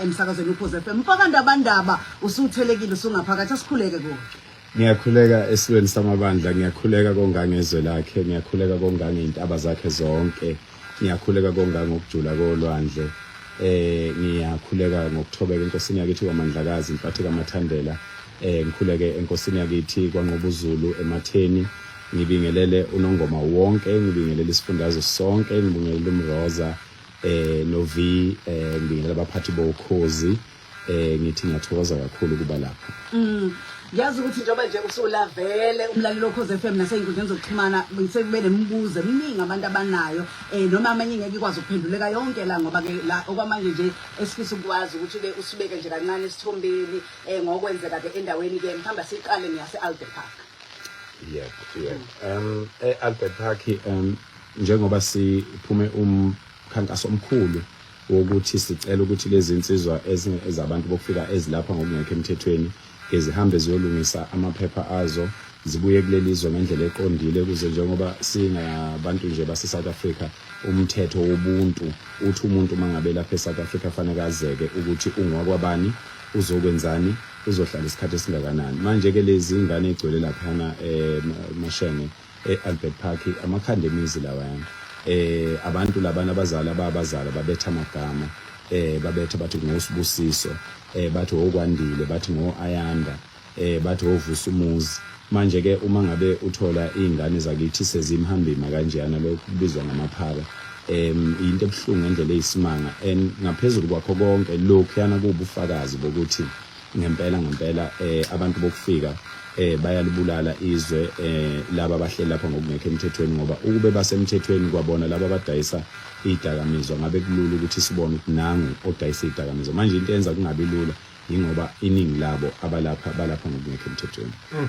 emsakazweni ukhoze FM mfaka ndabandaba usuthelekile usungaphakathi asikhuleke kuwe ngiyakhuleka esilweni samabandla ngiyakhuleka kongangezwe lakhe ngiyakhuleka kongange intaba zakhe zonke ngiyakhuleka kongange ukujula kolwandle eh ngiyakhuleka ngokuthobeka enkosini yakithi kwamandlakazi imphathi kamathandela Eh ngikhuleke enkosini yakithi kwanqoba uZulu ematheni ngibingelele unongoma wonke ngibingelele isifundazwe sonke ngibingelele umroza eh no V eh ngibingelele abaphathi bokhozi eh ngithi ngiyathokoza kakhulu kuba lapha mm yazi ukuthi njengoba nje usulavele umlaleli okhoze FM nasey'nkundleni zokuxhumana sekube nemibuzo eminingi abantu abanayo um noma amanye ngeke ikwazi ukuphenduleka yonke la ngoba-ke la okwamanje nje esifisa ukwazi ukuthi-ke usibeke nje kancane esithombeni eh ngokwenzeka ke endaweni ke mhamba siqale ngiyase Albert Park yeah yeah um e Albert Park um njengoba siphume umkhankaso omkhulu wokuthi sicela ukuthi lezi insizwa ezabantu bokufika ezilapha ngokungekho emthethweni ezihambe ziyolungisa amaphepha azo zibuye kuleli zwe ngendlela eqondile kuze njengoba singabantu nje base-south africa umthetho wobuntu uthi umuntu uma ngabe lapha e-south africa faneke azeke ukuthi ungowakwabani uzokwenzani uzohlala isikhathi esingakanani manje ke lezi ngane egcwele laphana eh mashenge eAlbert Park amakhanda emizi lawayana eh abantu labana abazali ababazali babetha amagama eh babetha bathi ngosibusiso eh bathi okwandile bathi ngoayanda eh bathi wovusa umuzi manje ke uma ngabe uthola izingane zakithi sezimhambima kanjena lokho kubizwa ngamaphara em into ebuhlungu ngendlela eyisimanga and ngaphezulu kwakho konke lokhu yana kubufakazi bokuthi ngempela ngempela eh abantu bokufika eh bayalibulala izwe eh laba bahleli lapha ngokungekho emthethweni ngoba ukube basemthethweni kwabona laba badayisa idakamizwa ngabe kulula ukuthi sibone ukuthi nangu odayisa idakamizwa manje into yenza kungabi lula yingoba iningi labo abalapha balapha ngokungekho emthethweni mm.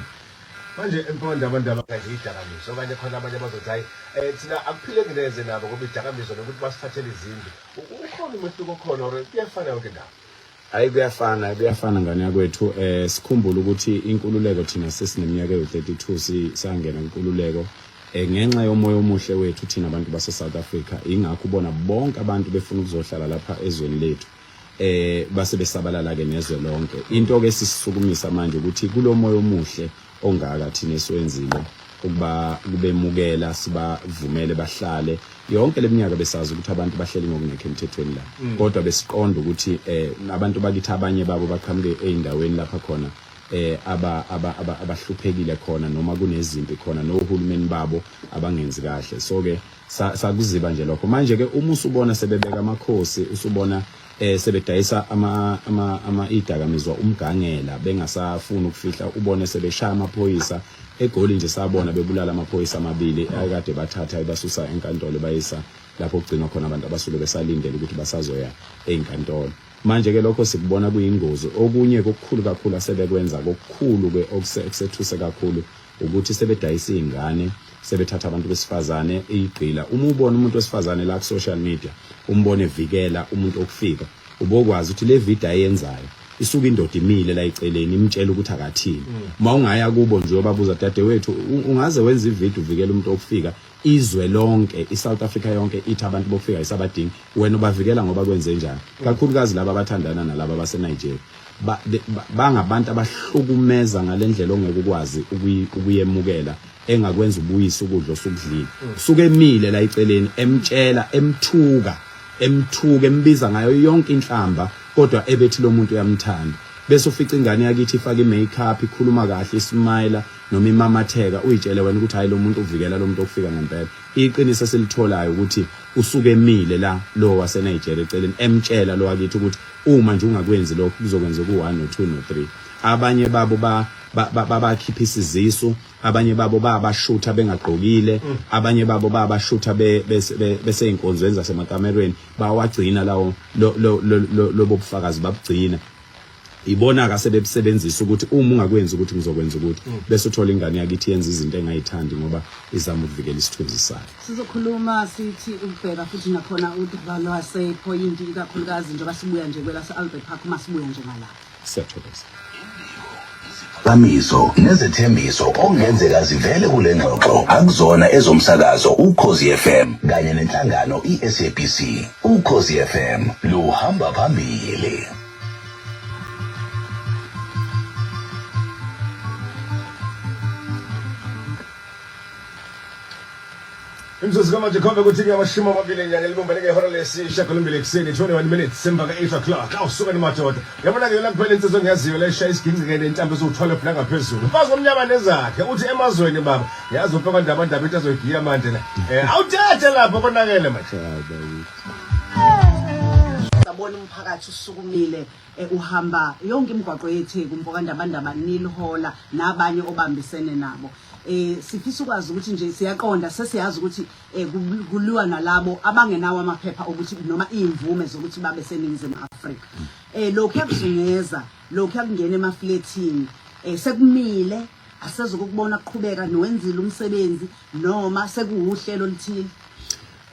manje empondla abantu abakanje idakamizwa okanye khona abanye abazothi hayi um thina akuphileki neze nabo ngoba idakamizwa nokuthi basithathele izindlu ukhona umehluko okhona or kuyafana yonke ndawo hayi kuyafana kuyafana ngane yakwethu um sikhumbule ukuthi inkululeko thina sesineminyaka ewu-32 sisangena inkululeko Eh, ngenxa yomoya omuhle wethu thina abantu base-south africa ingakho ubona bonke abantu befuna ukuzohlala lapha ezweni lethu eh base besabalala ke nezwe lonke into ke sisisukumisa manje ukuthi kulomoya omuhle ongaka thina esiwenzile ukuba kubemukela sibavumele bahlale yonke leminyaka besazi ukuthi abantu bahleli ngokungekho emthethweni la mm. kodwa besiqonda ukuthi eh abantu bakithi abanye babo baqhamuke eindaweni lapha khona eh aba abahluphekile khona noma kunezimpi khona nohulumeni babo abangenzi kahle so ke sa- sakuziba nje lokho manje ke uma usubona sebebeka amakhosi usubona eh sebedayisa ama ama ama idakamizwa umgangela bengasafuni ukufihla ubone sebeshaya amaphoyisa egoli nje sabona bebulala amaphoyisa amabili akade bathatha ebasusa enkantolo bayisa lapho kugcinwa khona abantu abasuke besalindele ukuthi basazoya ezinkantolo manje ke lokho sikubona kuyingozi okunye kokukhulu kakhulu asebekwenza kokukhulu ke okuse- okusethuse kakhulu ukuthi sebedayisa izingane sebethatha abantu besifazane eyigqila uma ubona umuntu wesifazane la ku social media umbone vikela umuntu okufika ubokwazi ukuthi le video ayenzayo isuke indoda imile la iceleni imtshela ukuthi akathini uma ungaya kubo nje ubabuza dadewethu ungaze wenza ivideo uvikela umuntu okufika izwe lonke iSouth Africa yonke ithi abantu bokufika isabadingi wena ubavikela ngoba kwenze njani kakhulukazi laba abathandana nalaba baseNigeria bangabantu abahlukumeza ngalendlela ongeke ukwazi ukuyemukela engakwenza ubuyise ukudla osukudlile suke emile la iceleni emtshela emthuka emthuka embiza ngayo yonke inhlamba kodwa ebethi lo muntu uyamthanda bese ufica ingane yakithi ifaka i-makeup ikhuluma kahle ismayila noma imamatheka uyitshele wena ukuthi hayi lo muntu uvikela lo muntu okufika ngempela iqiniso esilitholayo ukuthi usuke emile la lo waseNigeria eceleni emtshela lo wakithi ukuthi uma nje ungakwenzi lokho kuzokwenza ku-1 no-2 no-3 abanye babo ba babakhipha isizisu abanye babo babashutha bengagqokile mm. abanye babo babashutha beseyinkonzweni zasemakamerweni bawagcina lawo lobo bufakazi babugcina ibona ka sebebusebenzisa ukuthi uma ungakwenzi ukuthi ngizokwenza ukuthi mm. bese uthola ingane yakithi yenza izinto engayithandi ngoba izama ukuvikela isithunzi sayo sizokhuluma sithi ubheka futhi nakhona udaba lwasephoyinti ikakhulukazi njengoba sibuya nje kwelase-albert park uma sibuya nje ngalapho siyathokoza iziphakamiso nezethembiso okungenzeka zivele kule ngxoxo akuzona ezomsakazo ukhozi FM kanye nenhlangano iSABC ukhozi FM luhamba phambili imzuzu kamanje khombe ukuthi kuyamashumi amabili enyanga elibumbeleke ihora lesishagalombili ekuseni 21 minutes semva ka-8 o'clock awusuke nimadoda yabona-ke yona kuphela insizo engiyaziyo leshaya isigingcikene intambo esiwu-12 nangaphezulu mfazi omnyama nezakhe uthi emazweni baba yazi uphekwa ndabandaba into azoyigiya manje la um awuthethe lapho konakele manje sabona umphakathi usukumile eh, uhamba yonke imigwaqo yetheku mpokandabandaba nilihola nabanye obambisene nabo eh sifisa ukwazi ukuthi nje siyaqonda sesiyazi ukuthi eh, ku- kuliwa nalabo abangenawo amaphepha okuthi noma iyimvume zokuthi babe seningizimu Afrika eh lokhu yakuzungeza lokhu yakungena emafletini eh sekumile asezokubona kuqhubeka niwenzile umsebenzi noma sekuwuhlelo oluthile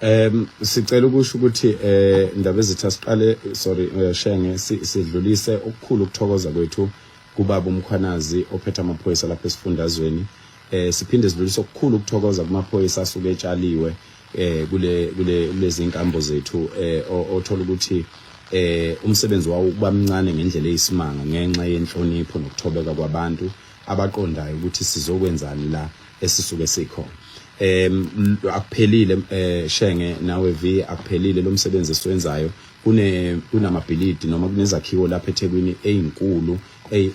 Um sicela ukusho ukuthi eh ndaba ezitha siqale sorry eh, shenge sidlulise ukukhulu ukuthokoza kwethu kubaba umkhwanazi ophethe amaphoyisa lapha esifundazweni eh siphinde sidlulise okukhulu ukuthokoza kumaphoyisa asuke etshaliwe eh kule kule lezi nkambo zethu eh othola ukuthi eh umsebenzi wawo kuba mncane ngendlela eyisimanga ngenxa yenhlonipho nokuthobeka kwabantu abaqondayo ukuthi sizokwenzani la esisuke sikhona em akuphelile eh shenge nawe V akuphelile lo msebenzi esiwenzayo kune kunamabhilidi noma kunezakhiwo lapha eThekwini ezinkulu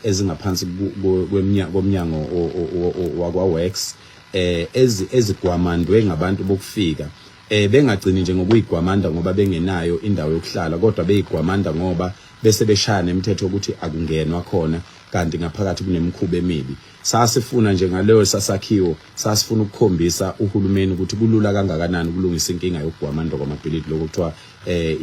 ezingaphansi komnyango wakwa Works eh ezigwamandwe ngabantu bokufika eh bengagcini nje ngokuyigwamanda ngoba bengenayo indawo yokuhlala kodwa beyigwamanda ngoba bese beshaya nemithetho ukuthi akungenwa khona kanti ngaphakathi kunemikhuba emibi Sasifuna nje ngaleyo sasakhiwo sasifuna ukukhombisa uhulumeni ukuthi kulula kangakanani ukulungisa inkinga yokugwama ndoko amabhilidi lokho kuthiwa eh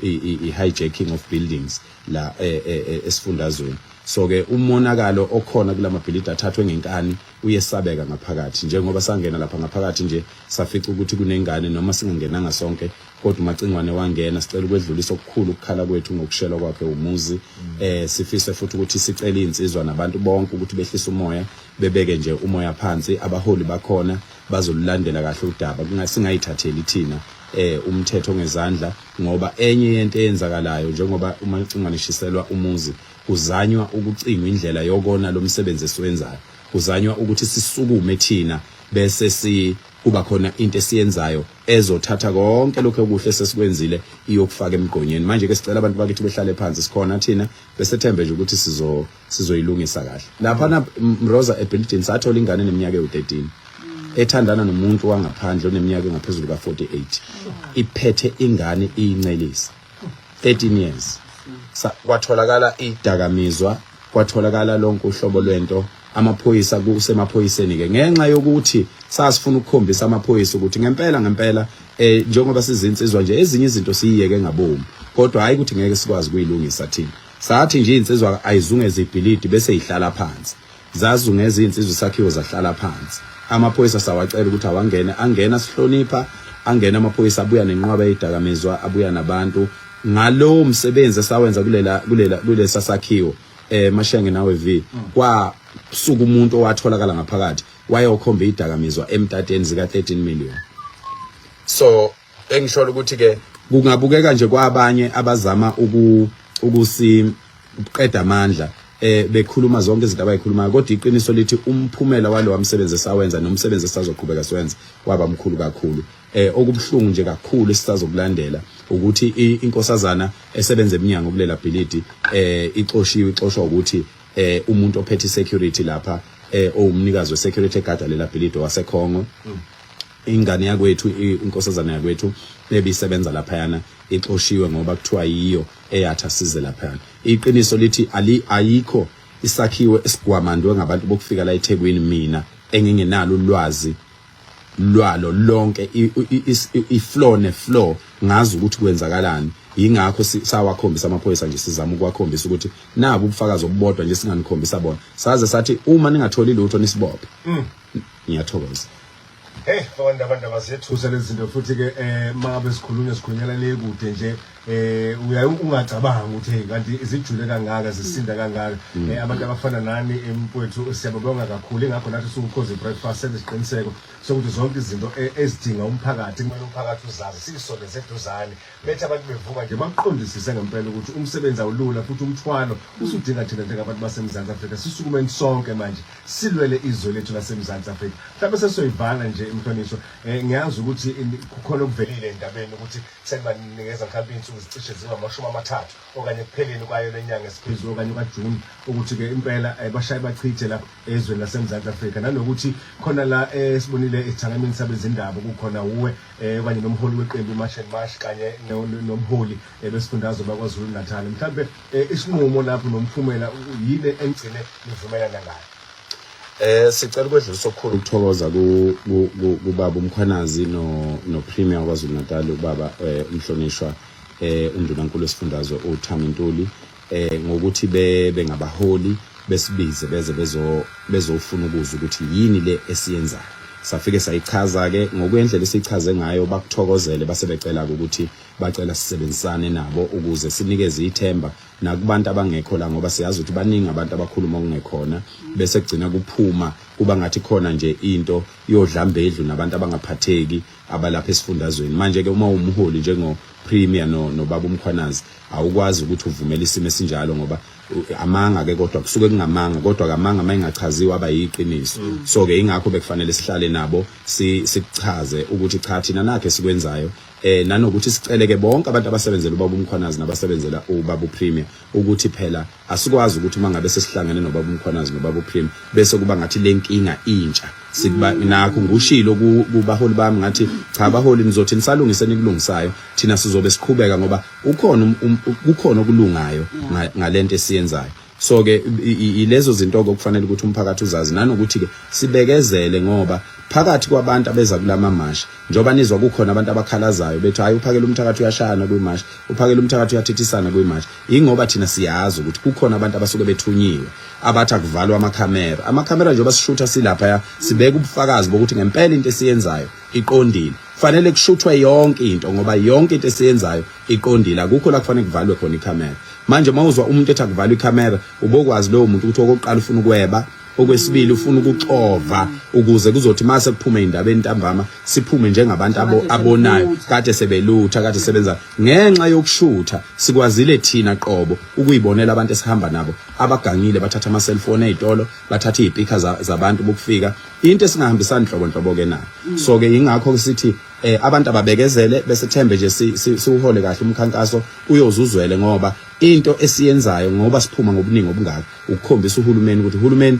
i-hijacking of buildings la eh, eh, eh, esifundazweni so ke umonakalo okhona kulamabhilidi athathwe ngenkani uyesabeka ngaphakathi njengoba sangena lapha ngaphakathi nje safica ukuthi kunengane noma singangenanga sonke kodwa umacingwane wangena sicela ukwedlulisa okukhulu ukukhala kwethu ngokushelwa kwakhe umuzi mm. eh sifise futhi ukuthi sicela insizwa nabantu bonke ukuthi behlise umoya bebeke nje umoya phansi abaholi bakhona bazolulandela kahle udaba kungasingayithatheli thina eh umthetho ngezandla ngoba enye yento eyenzakalayo njengoba uma licingwane shishelwa umuzi kuzanywa ukucingwa indlela yokona lomsebenzi esiwenzayo kuzanywa ukuthi sisukume thina bese si kuba khona into esiyenzayo ezothatha konke lokho okuhle sesikwenzile iyokufaka emgqonyeni manje ke sicela abantu bakithi behlale phansi sikhona thina besethembe nje ukuthi sizo sizoyilungisa kahle lapha na Mroza ebuilding sathola ingane neminyaka ewu13 ethandana nomuntu wangaphandle oneminyaka engaphezulu ka48 iphethe ingane iyincelisa 13 years kwatholakala idakamizwa kwatholakala lonke uhlobo lwento amaphoyisa kusemaphoyiseni ke ngenxa yokuthi sasifuna ukukhombisa amaphoyisa ukuthi ngempela ngempela eh njengoba sizinsizwa nje ezinye izinto siyiyeke ngabomu kodwa hayi ukuthi ngeke sikwazi kuyilungisa thina sathi nje insizwa ayizunge zibhilidi bese ihlala phansi Zazungeza izinsizwa isakhiwo zahlala phansi. Amaphoyisa sawacela ukuthi awangene, angena sihlonipha, angena amaphoyisa abuya nenqwaba eyidakamizwa, abuya nabantu. Ngalowo msebenzi esawenza kulela kulela kulesa sakhiwo eh mashenge nawe V kwa suku umuntu owatholakala ngaphakathi wayokhomba idakamizwa emtateni zika 13 million. So engisholo ukuthi ke kungabukeka nje kwabanye abazama uku ukusi uqeda amandla eh bekhuluma zonke izinto abayikhulumayo kodwa iqiniso lithi umphumela walowa msebenzi esawenza nomsebenzi esazoqhubeka siwenza waba mkhulu kakhulu eh okubuhlungu nje kakhulu esisazokulandela ukuthi inkosazana esebenza eminyango kulela bhilidi eh ixoshiwe ixoshwa ukuthi eh umuntu ophethe security lapha eh owumnikazi we security guard lela bhilidi waseKhongo mm. ingane yakwethu inkosazana yakwethu ebisebenza laphayana ixoshiwe ngoba kuthiwa yiyo eyatha size laphayana iqiniso lithi ali ayikho isakhiwo esigwamandwe ngabantu bokufika la eThekwini mina engingenalo ulwazi lwalo lonke ifloor nefloor ngazi ukuthi kwenzakalani yingakho sawakhombisa amaphoyisa nje sizama ukwakhombisa ukuthi naku ubufakazi obubodwa nje singanikhombisa bona saze sathi uma ningatholi lutho nisibophe mm. ngiyathokoza Hey, abantu abantu abazethusa lezi zinto futhi ke eh mabe sikhulunywa sikhulunyela le kude nje eh uyaye ungacabanga ukuthi hey kanti izijule kangaka zisinda kangaka mm. eh abantu abafana nani emfowethu siyababonga kakhulu ingakho nathi siwukhoze breakfast sesiqiniseko sokuthi zonke izinto eh, ezidinga umphakathi kumele umphakathi uzazi sisondeze eduzane Bethi abantu bevuka nje bakuqondisise ngempela ukuthi umsebenzi awulula futhi umthwalo usudinga thina njengabantu baseMzantsi Afrika sisukumeni sonke manje silwele izwe lethu laseMzantsi Afrika mhlawumbe sesiyoyivala nje imhlonishwa um ngiyazi ukuthi kukhona okuvelile endabeni ukuthi sekubanikeza mhlawumbe iy'nsuku zicishe zingamashumi amathathu okanye ekupheleni kwayo le nyanga esiphezulu okanye kwajuni ukuthi-ke impela um bashaye bachithe la ezweni laseMzantsi Afrika nanokuthi khona la esibonile esithangamini sabezindaba kukhona wuwe eh kanye nomholi weqembu iMarch and March kanye no- no- nomholi eh, besifundazwe bakwaZulu Natal mhlambe eh, isinqumo lapho nomphumela u- yini engigcine nivumelana ngayo Eh sicela ukwedlulisa okukhulu ukuthokoza ku- ku- ku- kubaba uMkhwanazi no no Premier kwaZulu Natal ubaba eh, umhlonishwa eh uNdunankulu wesifundazwe uThami Ntuli eh ngokuthi bebe ngabaholi besibize beze bezo bezofuna ukuzwa ukuthi yini le esiyenzayo safike sayichaza ke ngokwendlela esichaze ngayo bakuthokozele base becela ukuthi bacela sisebenzisane nabo ukuze sinikeze ithemba nakubantu abangekho la ngoba siyazi ukuthi baningi abantu abakhuluma okungekhona bese kugcina kuphuma kuba ngathi khona nje into yodlambedlu nabantu abangaphatheki abalapha esifundazweni manje ke uma umholi njengo premier no nobaba umkhwanazi awukwazi ukuthi uvumele isimo esinjalo ngoba amanga ke kodwa kusuke kungamanga kodwa kamanga mayingachaziwa aba yiqiniso mm. so ke ingakho bekufanele sihlale nabo sikuchaze ukuthi cha thina nakhe sikwenzayo eh nanokuthi siceleke bonke abantu abasebenzela ubaba umkhwanazi nabasebenzela ubaba upremier ukuthi phela Asikwazi ukuthi uma ngabe sesihlangene nobaba uMkhwanazi nobaba uPrim bese kuba ngathi lenkinga intsha sikuba mm. nakho ngushilo kubaholi bami ngathi cha abaholi nizothi nisalungise nikulungisayo thina sizobe siqhubeka ngoba ukhona um, um, kukhona okulungayo ngalento esiyenzayo so ke ilezo zinto okufanele ukuthi umphakathi uzazi nanokuthi ke sibekezele ngoba phakathi kwabantu abeza kulama mashi njoba nizwa kukhona abantu abakhalazayo bethi hayi uphakela umthakathi uyashayana kwi mashi uphakela umthakathi uyathithisana kwi mashi ingoba thina siyazi ukuthi kukhona abantu abasuke bethunyiwe abathi akuvalwa amakhamera amakhamera njengoba sishutha silapha sibeka ubufakazi bokuthi ngempela into esiyenzayo iqondile fanele kushuthwe yonke into ngoba yonke into esiyenzayo iqondile akukho la kufanele kuvalwe khona ikhamera manje uma uzwa umuntu ethi akuvalwe ikhamera ubokwazi lowo muntu ukuthi okokuqala ufuna ukweba okwesibili ufuna ukuxova ukuze kuzothi mase kuphume indaba entambama siphume njengabantu abonayo kade sebelutha kade sebenza Ngenxa yokushutha sikwazile thina qobo ukuyibonela abantu esihamba nabo abagangile bathatha ama cellphone ezitolo bathatha izipika zabantu bokufika into esingahambisani nhlobo nhlobo ke nayo mm. so ke ingakho sithi eh abantu ababekezele bese thembe nje siwuhole kahle umkhankaso uyozuzwele ngoba into esiyenzayo ngoba siphuma ngobuningi obungaka ukukhombisa uhulumeni ukuthi uhulumeni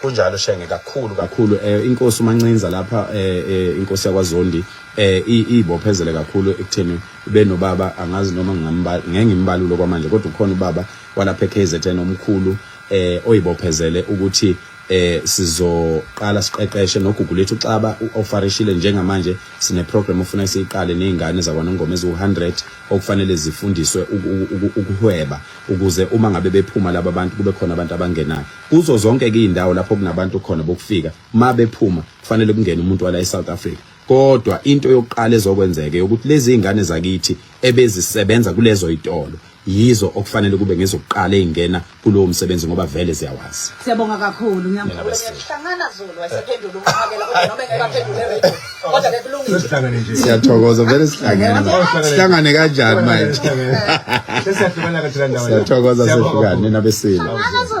kunjalo shenge kakhulu kakhulu eh inkosi umancinza lapha eh, eh inkosi yakwaZondi eh ibophezele kakhulu ekutheni benobaba angazi noma ngingambala ngengimbalulo kwamanje kodwa ukhona ubaba walapha eKZN omkhulu eh oyibophezele ukuthi eh sizoqala siqeqeshe nogugu lethu xaba ufarishile njengamanje sine program ofuna siyiqale nezingane zakwanongoma eziwu100 okufanele zifundiswe ukuhweba ukuze uma ngabe bephuma laba bantu kube khona abantu abangenayo kuzo zonke-ke iy'ndawo lapho kunabantu khona bokufika ma bephuma kufanele kungene umuntu wala e-south africa kodwa into yokuqala ezokwenzeka yokuthi lezi y'ngane zakithi ebezisebenza kulezo y'tolo yizo okufanele kube ngezokuqala ey'ngena kulowo msebenzi ngoba vele ziyawazi siyabonga kakhulu ngiyamhlangana zulu wayesephendula umphakela kodwa noma engekaphendule kodwa ke kulungile Sesihlangane nje. siyathokoza vele sihlangene sihlangane kanjani manje Sesiyahlukana ke thina ndawo. siyathokoza sehlukane nina besile Akazo.